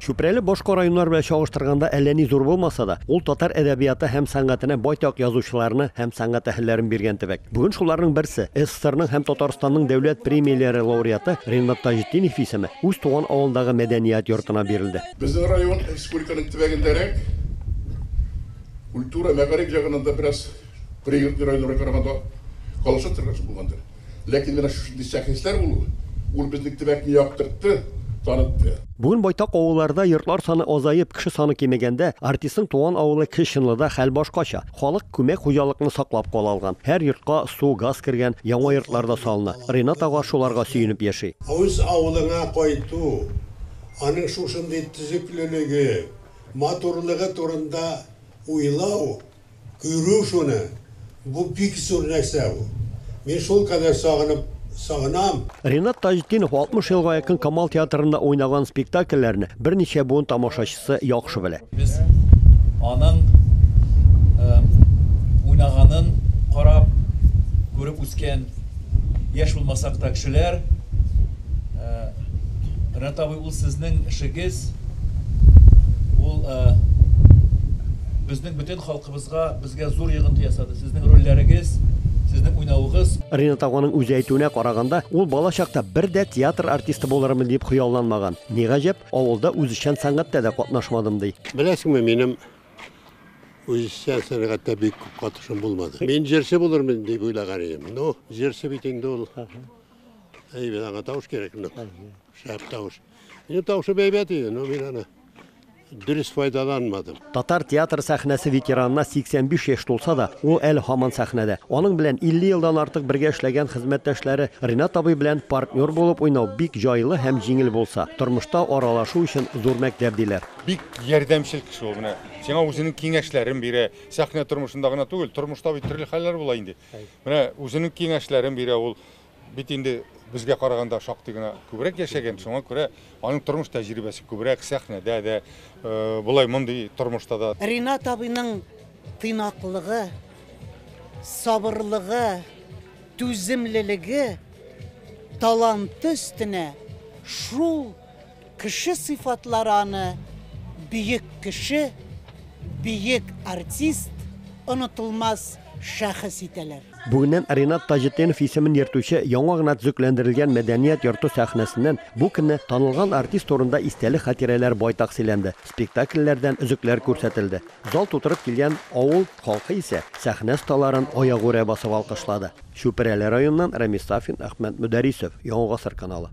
Чүпрәле башка районнар белән чагыштырганда әллә ни зур булмаса да, ул татар әдәбияты һәм сәнгатенә байтак язучыларны һәм сәнгать әһелләрен биргән төбәк. Бүген шуларның берсе, СССРның һәм Татарстанның дәүләт премияләре лауреаты Ренат Таҗетдинов исеме үз туган авылындагы мәдәният йортына бирелде. Безнең район республиканың төбәгендәрәк, культура, мәгариф ягыннан да бераз пригородный районнарга караганда калышып торган булгандыр. Ләкин менә шушындый шәхесләр булуы, ул безнең төбәкне яктыртты, танытты. Бүген байтак авылларда йортлар саны азаеп, кеше саны кимегәндә, артистның туган авылы Кече Чынлыда хәл башкача. Халык күмәк хуҗалыкны саклап кала алган. Һәр йортка су, газ кергән, яңа йортлар да салына. Ринат ага шуларга сөенеп яши. Үз авылыңа кайту, аның шушындый төзеклелеге, матурлыгы турында уйлау Күрү шуны, бу бик зур нәрсә ул. Мин шулкадәр сагынып, сагынам. Ринат Таҗетдинов 60 елга якын Камал театрында уйнаган спектакльләрне берничә буын тамашачысы яхшы белә. Без аның уйнаганын карап, күреп үскән яшь булмасак та кешеләр. Ринат абый, ул сезнең эшегез, ул безнең. Бөтен халкыбызга, безгә зур йогынты ясады сезнең рольләрегез, сезнең уйнавыгыз. Ринат аганың үзе әйтүенә караганда, ул бала чакта бер дә театр артисты булырмын дип хыялланмаган. Ни гаҗәп, авылда үзешчән сәнгатьтә дә катнашмадым, ди. Беләсеңме, минем үзешчән сәнгатьтә бик күп катышым булмады. Мин җырчы булырмын дип уйлаган идем. Ну, җырчы бит инде ул. Әйбәт, аңа тавыш кирәк, ну, шәп тавыш. Минем тавышым әйбәт иде, ну, мин аны. Дөрес файдаланмадым. Татар театр сәхнәсе ветеранына 85 яшь тулса да, ул әле һаман сәхнәдә. Аның белән 50 елдан артык бергә эшләгән хезмәттәшләре Ринат абый белән партнер булып уйнау бик җайлы һәм җиңел булса, тормышта аралашу өчен зур мәктәп, диләр. Бик ярдәмчел кеше ул. Менә сиңа үзенең киңәшләрен бирә. Сәхнә тормышында гына түгел, тормышта бит төрле хәлләр була инде. Менә үзенең киңәшләрен бирә ул. Бит инде безгә караганда шактый гына күбрәк яшәгән, шуңа күрә аның тормыш тәҗрибәсе күбрәк сәхнәдә дә, э, болай мондый тормышта да. Ринат абыйның тыйнаклыгы, сабырлыгы, түземлелеге таланты өстенә шул Кеше сыйфатлары аны бөек кеше, бөек артист, онытылмас шәхес итәләр. Бүгеннән Ринат Таҗетдинов исемен йөртүче яңа гына төзекләндерелгән мәдәният йорты сәхнәсеннән бу көнне танылган артист турында истәлек хатирәләр байтак сөйләнде, спектакльләрдән өзекләр күрсәтелде. Зал тутырып килгән авыл халкы исә сәхнә осталарын аягүрә басып алкышлады. Чүпрәле районыннан Рәмис Сафин, Әхмәт Мөдәрисов, Яңа гасыр каналы.